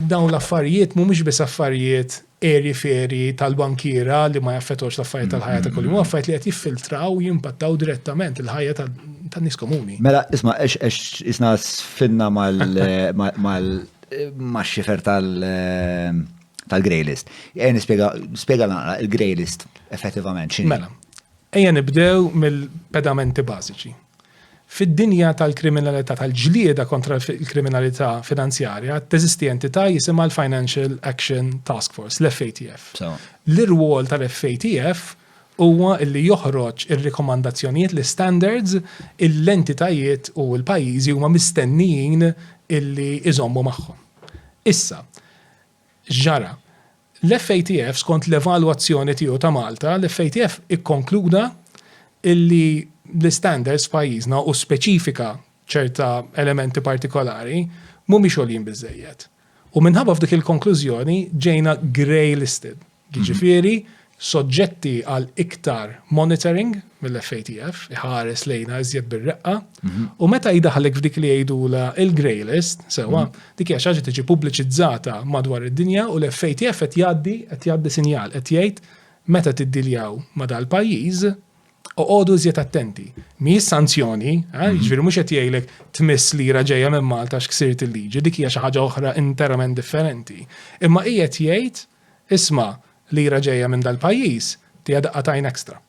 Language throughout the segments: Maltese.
Dawn l-affarijiet mhumiex biss affarijiet għerji f'għerji tal-bankiera li ma jaffettwawx l-affarijiet tal-ħajja ta' kuljum, affarijiet li qed jiffiltraw u jimpattaw direttament il-ħajja tan-nies komuni. Mela, isma' għax isna sfinna mal max-xifer tal-grey list. Ejja nispjega, spjega naqra il-grey list effettivament x'inhi. Mela, ejja nibdew mill-pedamenti bażiċi. Fid-dinja tal-kriminalità tal-ġlieda kontra l-kriminalità finanzjarja, teżisti entità jisimha l-Financial Action Task Force, l-FATF. L-irwol tal-FATF huwa li joħroġ ir-rikomandazzjonijiet, l-istandards, li l-entitajiet u l-pajjiżi huma mistennijin li jżommu magħhom. Issa, x'ġara? L-FATF, skont l-evalwazzjoni tiegħu ta' Malta, l-FATF ikkonkluda illi l-istandards f'pajjiżna u speċifika ċerta elementi partikolari mhumiex għoljin biżżejjed. U minħabba f'dik il-konklużjoni ġejna grey listed, jiġifieri soġġetti għal iktar monitoring, mill-FATF iħares lejna iżjed bir-reqqa u meta jdaħlek f'dik li jgħidula il-grey list, sewa, dik hija xaġa tiġi pubbliċizzata madwar id-dinja u l-FATF qed jgħaddi qed jgħaddi sinjal qed jgħid meta tiddiljaw ma' dal-pajjiż oqogħdu iżjed attenti. Mhijiex sanzjoni, eh, jiġifieri mhux qed jgħidlek tmiss lira ġejja minn Malta x'ksirt il-liġi, dik hija xi ħaġa oħra interament differenti. Imma qiegħed jgħid isma' lira ġejja minn dal-pajjiż tiegħek daqqa tajn ekstra.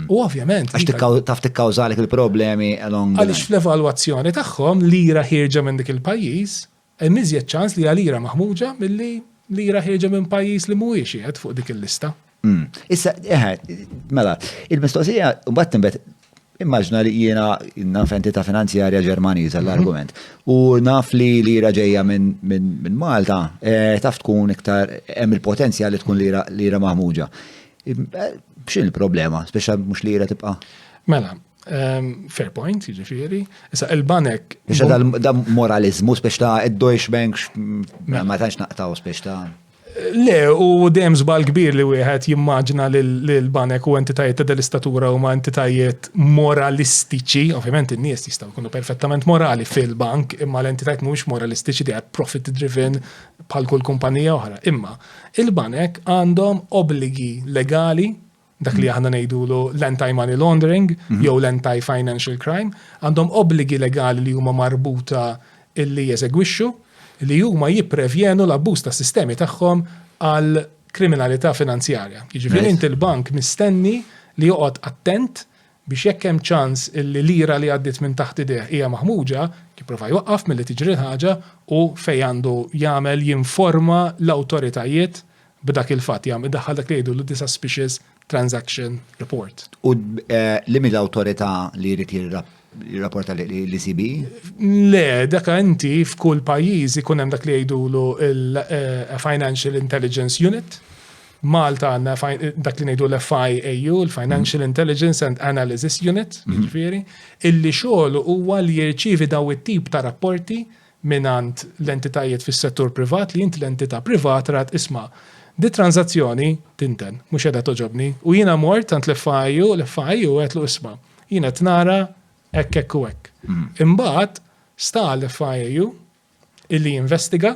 U ovvjament. Għax taf tikkawżalik il-problemi along. Għaliex fl-evalwazzjoni tagħhom lira ħirġa minn dik il-pajjiż, hemm iżjed ċans li għalira maħmuġa milli lira ħirġa minn pajjiż li mhuwiex qiegħed fuq dik il-lista. Mm. Issa, eħe, mela, il-mistoqsija, mbagħad timbet, immaġna li jiena naf entità finanzjarja ġermaniża mhm. l-argument. U naf li lira ġejja minn Malta, eh, taf tkun iktar hemm il-potenzjal li tkun lira maħmuġa. X'in il-problema, speċa mhux li jira tibqa'? Mela, ehm, fair point, jiġifieri. Issa il-banek. Biex da moralizmu speċ ta' id-Deutsche Bank mela. ma tantx naqtaw speċ ta' Le, u dejjem żbal kbir li wieħed jimmaġna li l-banek u entitajiet ta' dell-istatura huma entitajiet moralistiċi, ovvjament in-nies jistgħu jkunu perfettament morali fil-bank, imma l-entitajiet mhumiex moralistiċi they are profit driven bħal kull kumpanija oħra. Imma Il-banek għandhom obbligi legali, dak li aħna ngħidulu l-anti-money laundering jew l-anti-financial crime, għandhom obbligi legali li huma marbuta li jeżegwixxu, li huma jipprevjenu l-abbuż tas-sistemi tagħhom għal kriminalità finanzjarja. Jiġifieri inti l-bank mistenni li joqgħod attent biex jekk hemm ċans li lira li għaddiet minn taħt idejh hija maħmuġa, jipprova jwaqqaf milli tiġri l-ħaġa u fejn għandu jagħmel jinforma l-awtoritajiet b'dak il-fatt, jagħmel, idaħħal dak li jgħidulu the suspicious transaction report. U liema l-awtorità li jrid jirrapporta l-ECB? Le, dak inti f'kull pajjiż ikun hemm dak li jgħidulu l-Financial Intelligence Unit, Malta għanna dak li nejdu l-FIAU, l-Financial mm. Intelligence and Analysis Unit, mm. ġifiri, illi xogħol huwa li jirċivi daw it-tip ta' rapporti minant l-entitajiet fis settur privat li jint l-entità privat rat isma' di tranzazzjoni tinten, mhux edha toġobni, u jiena mort tant l-FIAU, l-FIAU qed l isma' jiena tnara hekk hekk u hekk. Mm. Imbagħad sta l-FIAU illi jinvestiga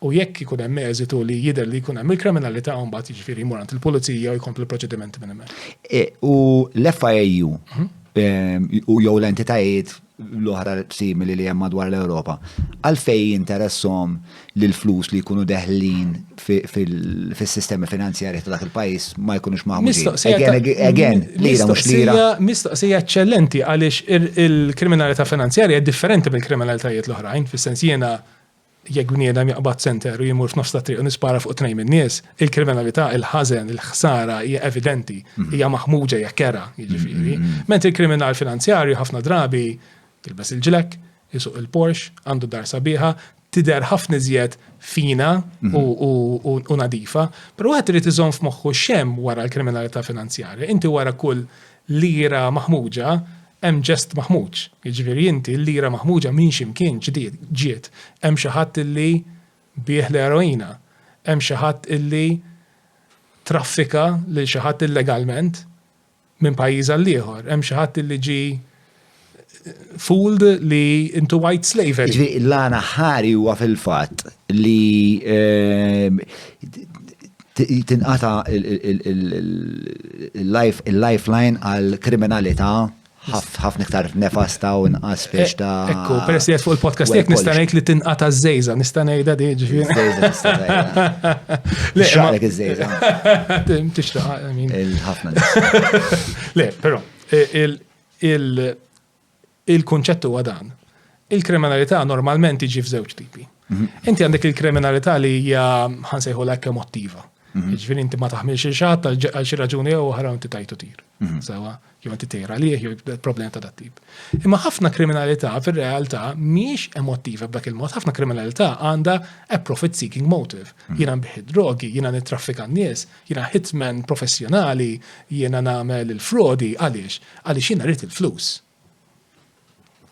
u jekk ikun hemm eżitu li jidher li jkun hemm il-kriminalità u mbagħad jiġifieri jmur għand il-pulizija u jkompli proċedimenti minn hemmhekk. E, u l-FIAU mhm. e, u jew l-entitajiet l-oħra simili li hemm madwar l-Ewropa, għalfej interessom li l-flus li jkunu deħlin fil-sistemi finanzjari ta' dak il-pajis ma jkunux maħmuġin. Again, lira mux lira. Mistoqsija eccellenti għalix il-kriminalità finanzjarja differenti mill-kriminalitajiet l-oħrajn, fil-sens jena jekk bniedem jaqbad center u jimur f'nofs ta' triq u nispara fuq tnejn min-nies, il-kriminalità, il-ħażen, il-ħsara hija evidenti, mhm. hija maħmuġa hija kera, jiġifieri. Mhm, mhm. Ment il-kriminal finanzjarju ħafna drabi jilbes il-ġlek, jisuq il-Porsche, għandu dar sabiħa, tidher ħafna iżjed fina u nadifa, però wieħed irid iżomm f'moħħu x'hemm wara l-kriminalità finanzjarja. Inti wara kull lira maħmuġa hemm ġest maħmuġ. Jiġifieri inti l-lira maħmuġa minn xi mkien ġiet. Hemm xi ħadd illi biegħ l-eroina. Hemm xi ħadd illi traffika lil xi ħadd illegalment minn pajjiż għal ieħor. Hemm xi ħadd li ġi fooled li into white slavery. Ġvi, l-għana ħari huwa fil-fatt li ehm, tinqata il-lifeline għal kriminalità ħafna iktar nefasta u nqas biex ta' eh, Ekku, peress li fuq il-podcast jek nista' ngħid li tinqata żejża, nista' ngħidha di ġifieri. Żejża nista' ngħidha. Xaqlek iż-żejża. Tixraq, Le, però, il-kunċett huwa dan. Il-kriminalità normalment tiġi f'żewġ tipi. Mhm. Inti għandek il-kriminalità li hija ħansejħu l emotiva. Mhm. Ġifieri inti ma taħmilx il-xatt għal xi raġuni jew oħra inti tajtu tir. Mhm. Sewa, jew inti tejra liħ jew problema ta' dat-tip. Imma ħafna kriminalità fir-realtà mhix emotiva b'dak il-mod, ħafna kriminalità għandha a profit seeking motive. Jiena nbiħi drogi, jiena nittraffika n-nies, Jiena hitman professjonali, jiena nagħmel il-frodi, għaliex? Għaliex jiena rrid il-flus.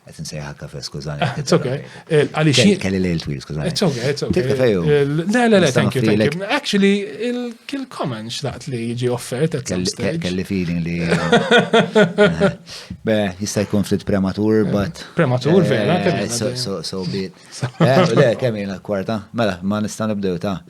Qed insejħa kafe, skużani. Ah, it's okay. Eh, għaliex jien. Kelli lejl twil, skużani. It's okay, it's okay. Kafe jew. Eh, le, le, le, thank you, thank you. Actually, il-kill comment xlaqt li jiġi offert at some stage. Kelli feeling li. Be, jista' jkun ftit prematur, eh, but. Prematur, vera, So, so, so bit. Le, kemm jiena kwarta. Mela, ma nista' nibdew ta'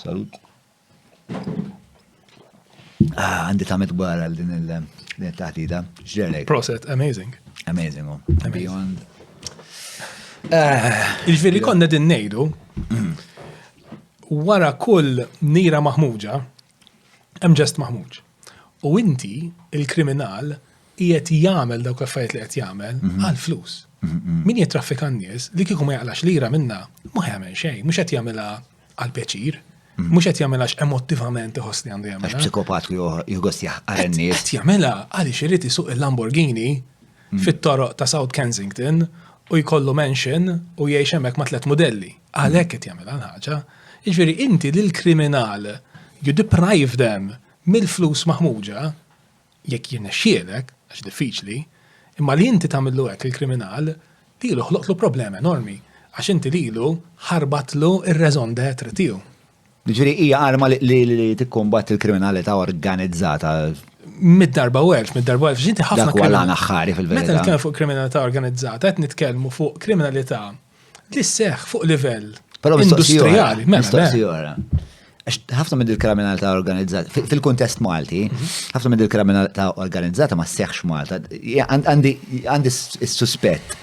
Salut. Ah, għandi ta' mitbar għal din il-taħdida. Ġerek. Proset, amazing. Amazing, oh. Beyond. Ah. Il-veri konna din nejdu, wara kull nira maħmuġa, Hemm ġest maħmuġ. U inti, il-kriminal, qiegħed jagħmel dawk l-affarijiet li qed jagħmel mhm. għal flus. Mhm, mhm. Min jitraffika n-nies li kieku ma jaqlax lira minna ma jagħmel xejn, mhux qed jagħmilha għal pjaċir, mhux qed jagħmilha emotivament iħoss li għandu jagħmel. Għax psikopat li jħoss jaqar n-nies. Qed jagħmilha għaliex irid isuq il-Lamborghini fit-toroq ta' South Kensington u jkollu mansion u jgħix hemmhekk ma' tliet mudelli. Għalhekk qed jagħmel ħaġa. Jiġifieri inti lil kriminal you deprive them mill-flus maħmuġa jekk jirnexxielek, għax diffiċli, imma li inti tagħmillu hekk lill-kriminal lilu ħloqtlu problema enormi għax inti lilu ħarbatlu r-raison d'être tiegħu. Ġifieri hija arma li tikkumbatt il-kriminalità organizzata. Mid-darba u elf, mid-darba u elf, ġinti ħafna. Dak għal aħħari fil-verità. Meta nitkellmu fuq kriminalità organizzata, qed nitkellmu fuq kriminalità li seħ fuq livell industrijali. Mela, mela. ħafna minn il-kriminalità organizzata, fil-kontest Malti, mhm. ħafna minn il-kriminalità organizzata ma seħx Malta. Għandi s-suspett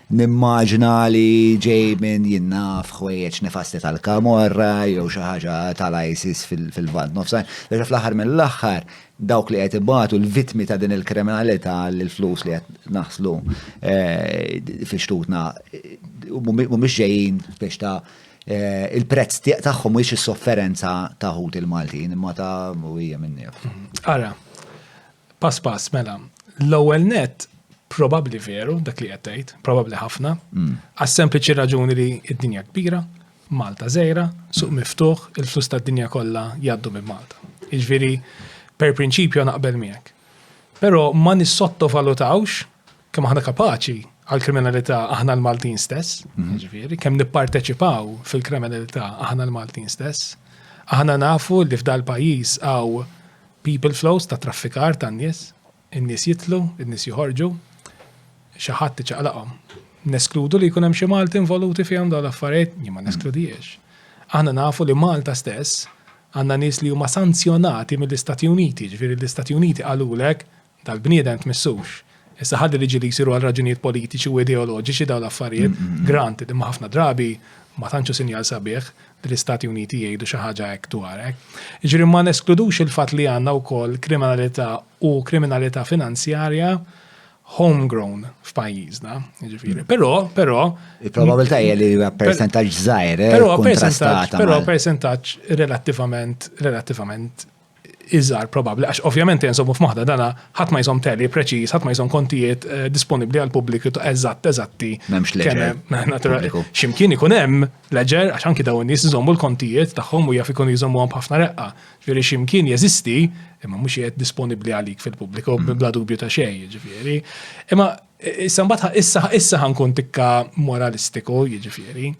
Nimmaġina li ġej minn jien naf ħwejjeġ nefasti tal-kamorra jew xi ħaġa tal-ISIS fil-Lvant Nofsan. Leġa fl-aħħar mill-aħħar dawk li qed ibatu l-vittmi ta' din il-kriminalità li l-flus li qed naħslu eh, fi xtutna eh, mhumiex ġejjin biex ta' Eh, il-prezz tagħhom mhuwiex is-sofferenza ta' ħut il-Maltin imma ta' hija minnif. Ara, Pass pass, mela. L-ewwel net probabbli veru dak li qed tgħid, probabbli ħafna, mm. għas sempliċi raġuni li d-dinja kbira, Malta żejra, suq miftuħ, il-flus tad-dinja kollha jgħaddu minn Malta. Iġviri, per prinċipju naqbel miegħek. Però ma nissottovalutawx kemm aħna kapaċi għal-kriminalità aħna l-Maltin stess, mhm. ġifiri, kemm nipparteċipaw fil-kriminalità aħna l-Maltin stess, aħna nafu li f'dal pajis għaw People flows ta' traffikar tan-nies, in-nies jidħlu, in-nies joħorġu, xi ħadd iċaqlaqhom. Neskludu li jkun hemm xi Malti involuti fihom dawn l-affarijiet? Jien ma neskludihiex. Aħna nafu li Malta stess għandna nies li huma sanzjonati mill-Istati Uniti, jiġifieri l-Istati Uniti qalulek tal-bniedem tmissux. Issa ħalli liġi li jsiru għal raġunijiet politiċi u ideoloġiċi dawn l-affarijiet, granted, imma ħafna drabi ma tantx hu sinjal sabiħ li l-Istati Uniti jgħidu xi ħaġa hekk dwar hekk. Jiġri ma neskludux il-fatt li għandna wkoll kriminalità u kriminalità finanzjarja homegrown f'pajjiżna, jiġifieri. Però, però. Il-probabilità hija li huwa percentaġġ żgħir, eh, però percentaġġ, però percentaġġ relattivament relattivament iżgħar probabbli, għax ovvjament jenżomu f'moħħna dana ħadd ma jżomm teli preċiż, ħadd ma jżomm kontijiet eh, disponibbli għal pubbliku ta' eżatt eżatti. M'hemmx leġer. Ximkien ikun hemm leġer għax anki dawn nies iżommu l-kontijiet tagħhom u jaf ikun jżommuhom b'ħafna reqqa. Ġifieri ximkien jeżisti imma mhux qiegħed disponibbli għalik fil-pubbliku mm. bla dubju ta' xejn, jiġifieri. Imma eh, issa mbagħad issa issa ħankun tikka moralistiku, jiġifieri.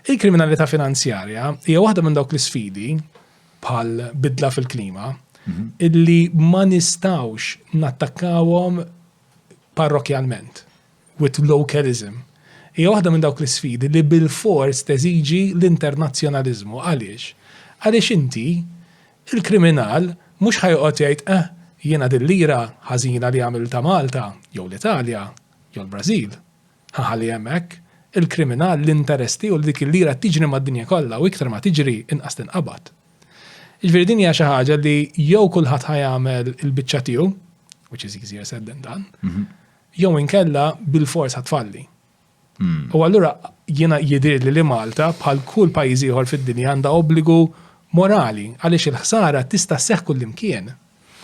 Il-kriminalità finanzjarja hija waħda minn dawk l-isfidi bħal bidla fil-klima, illi ma nistawx nattakkawhom parrokjalment, with localism. Hija waħda minn dawk l-isfidi li bil-fors teżiġi l-internazzjonaliżmu. Għaliex? Għaliex inti, il-kriminal, mhux ħa joqgħod jgħid, eh, jiena dil-lira ħażina li għamiltha Malta, jew l-Italja, jew l-Brażil, Haha li hemm hekk, il-kriminal, l-interess tiegħu li dik il-lira tiġri mad-dinja kollha u iktar ma tiġri inqas tinqabad. Jiġifieri din hija xi ħaġa li jew kulħadd ħa jagħmel il-biċċa tiegħu, which is easier said than done, jew inkella bilfors ħa tfalli. U allura jiena jidhirli li Malta bħal kull pajjiż ieħor fid-dinja għandha obbligu morali għaliex il-ħsara tista' sseħħ kullimkien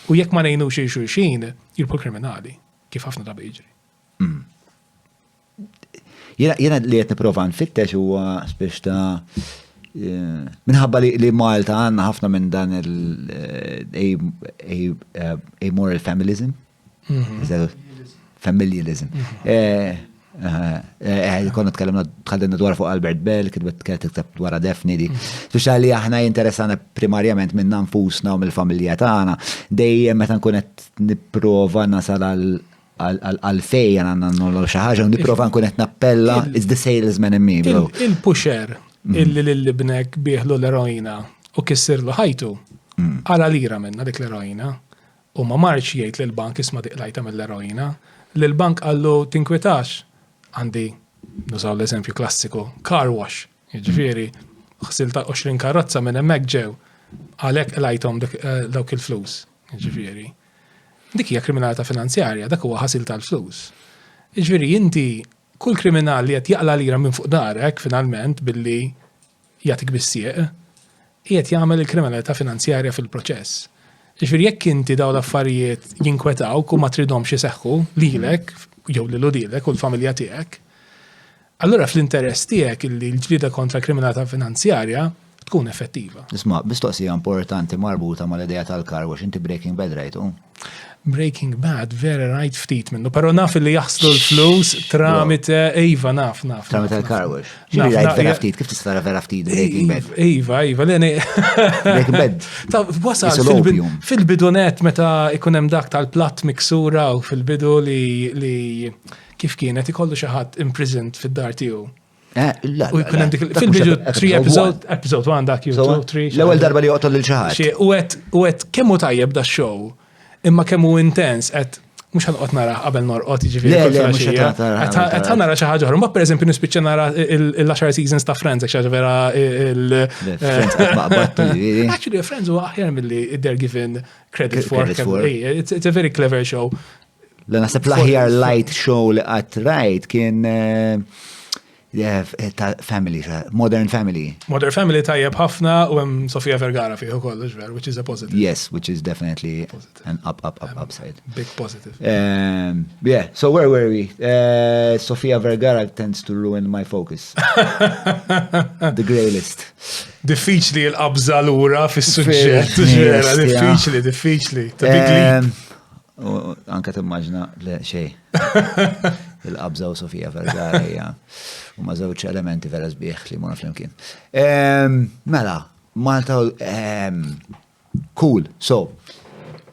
u jekk ma ngħinux lil xulxin jirbħu l-kriminali, kif ħafna drabi jiġri. Hmm. Jena li qed nipprova nfittex huwa spiex ta' eh, minħabba li Malta għandna ħafna minn dan il-amoral eh, familism. Mhm. Familialism. Mhm. Eh, konna tkellimna tħallina dwar fuq Albert Bell, kitbet kitbet dwar defni di. Mhm. Speċa li aħna jinteressana primarjament minn nfusna u mill-familja tagħna, dejjem meta nkun qed nipprova nasal għal Għalfej għan għanna nollu xaħġa, u niprofa nkun qed nappella, it's the salesman in me, bro. Il-pusher mm. illi l-libnek biħlu l-eroina u kissirlu ħajtu, mm. għala lira minna dik l-eroina, u ma marċ jgħid l-bank isma diqlajta mill-eroina, l-bank għallu tinkwitax, għandi, nużaw l-eżempju klassiku, car wash, ġifiri, xsil ta' 20 karozza minn emmek ġew, għalek lajtom eh, dawk il-flus, ġifiri. Dik hija kriminalità finanzjarja, dak huwa ħasil tal-flus. Jiġifieri inti kull kriminal li qed jaqla' lira minn fuq darek finalment billi jagħtik bis-sieq, qiegħed jagħmel il-kriminalità finanzjarja fil-proċess. Jiġifieri jekk inti dawn l-affarijiet jinkwetawk u ma tridhomx iseħħu lilek jew lil uliedek u l-familja tiegħek, Allura fl-interess tiegħek illi l-ġlieda kontra kriminata finanzjarja tkun effettiva. Isma, bistoqsija importanti marbuta mal-idea tal-kar wax inti Breaking Bad rajtu? Breaking Bad vera rajt ftit minnu, pero naf li jaħslu l-flus tramite Iva naf naf. Tramite l-kar wax. Xiri rajt vera ftit, kif tista' vera ftit Breaking Bad? Iva, Iva, l-ene. Breaking Bad. Ta' wasal fil-bidunet meta ikunem dak tal-platt miksura u fil-bidu li Kif kienet ikollu xi ħadd imprisoned fid-dar tiegħu? Eh, u jkun hemm dik fil-bidu 3 episode, episode 1 dak jew 2 3. L-ewwel darba li joqtol lil xi ħadd. U qed u qed kemm hu tajjeb da show, imma kemm hu intens qed mux ħanqot nara qabel norqot ġifiri. Għet ħanara xaħġa ħor. Ma per eżempju nispiċċa nara il-10 seasons ta' Friends, għek xaħġa vera il- Actually, Friends u aħjar mill-li they're given credit for. It's a very clever show. L naħseb l-aħjar light show li qatt rajt kien eh, eh, ta' family, modern family. Modern family tajjeb ħafna u hemm Sofia Vergara fih ukoll, ġver, which is a positive. Yes, which is definitely positive. an up, up, up, upside. Big positive. Um, yeah, so where were we? Uh, Sofia Vergara tends to ruin my focus. The grey list. Diffiċli l-qabża l-ura fis-suġġett, diffiċli, diffiċli. Ta' big leap. Um, U anka timmaġna le xej. Il-qabża u Sofija Vergara hija u ma żewġ elementi vera sbieħ li mona flimkien. Mela, Malta cool. So,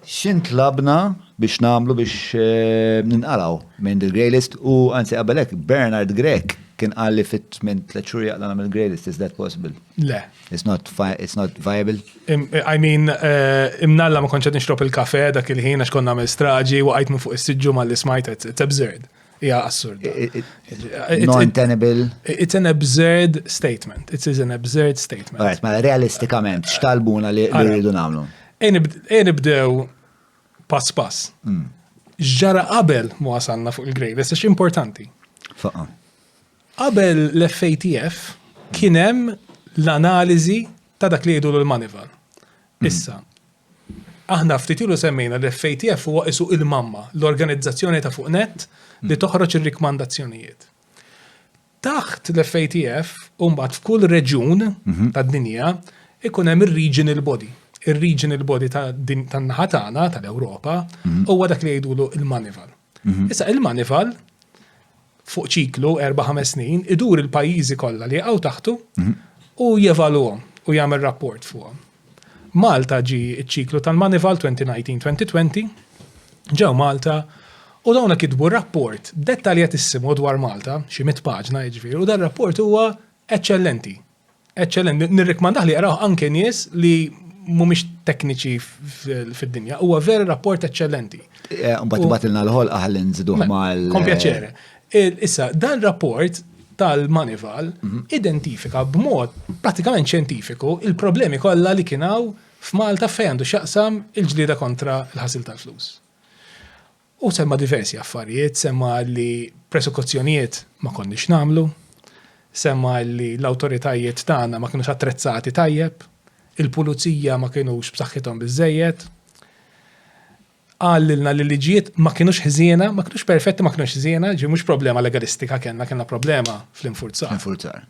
xint labna biex namlu biex eh, ninqalaw minn dil greylist u anzi qabelek Bernard Grek kien qalli fit minn tliet xhur jaqla nagħmel greylist is that possible? Le. It's not, it's not viable. I mean, eh, imnalla ma konċet nixrob il-kafe dak il-ħin għax konna għamil straġi u għajt minn fuq is-sidġu ma li smajt, it's absurd. Ija assurd. Non-tenable. It's an absurd statement. It is an absurd statement. Right, ma realistikament, xtalbuna li rridu namlu. Enibdew pass pass. Mm. Ġara qabel mu għasanna fuq il-grejles, importanti. Faqa. Qabel l-FATF kien hemm l-analiżi ta' dak li jgħidulu l-manival. Issa, aħna ftit ilu semmejna li FATF huwa isu il-mamma, l-organizzazzjoni ta' fuq net li toħroġ ir-rikmandazzjonijiet. Taħt l-FATF, umbat f'kull reġjun mhm. tad-dinja, ikun hemm ir-regional body. Ir-regional body tan-naħa tagħna tal-Ewropa mhm. huwa dak li jgħidulu il-manival. Mhm. Issa il-manival fuq ċiklu 4-5 snin idur il-pajjiżi kollha li jaqgħu taħtu mhm. u jevaluhom u jagħmel rapport fuqhom. Malta ġi ċ-ċiklu tal-manival 2019-2020 ġew Malta u dawna kitbu rapport dettaljatissimu dwar Malta, xi mit paġna jiġifieri, u dan rapport huwa eċċellenti. Eċċellent, nirrikmandah li jaraw anke nies li mhumiex tekniċi fid-dinja. Huwa vera rapport eċċellenti. Eh, mbagħad tibgħatilna l-ħol aħli nżiduh mal. Kompjaċere. Issa, dan rapport tal-Manival mhm. identifika b'mod pratikament ċentifiku il-problemi kollha li kienaw f'Malta fejn għandu xaqsam il-ġlieda kontra l-ħasil tal-flus. Hu semma diversi affarijiet, semma li presekuzzjonijiet ma konniex nagħmlu, semma li l-awtoritajiet tagħna ma kinux attrezzati tajjeb, il-pulizija ma kinux b'saħħithom biżżejjed, qal lilna li l-liġijiet ma kinux ħżiena, ma kinux perfetti ma kinux ħżiena, ġifieri mhux problema legalistika kellna, kellna problema fl-infurzar. Fl-infurzar.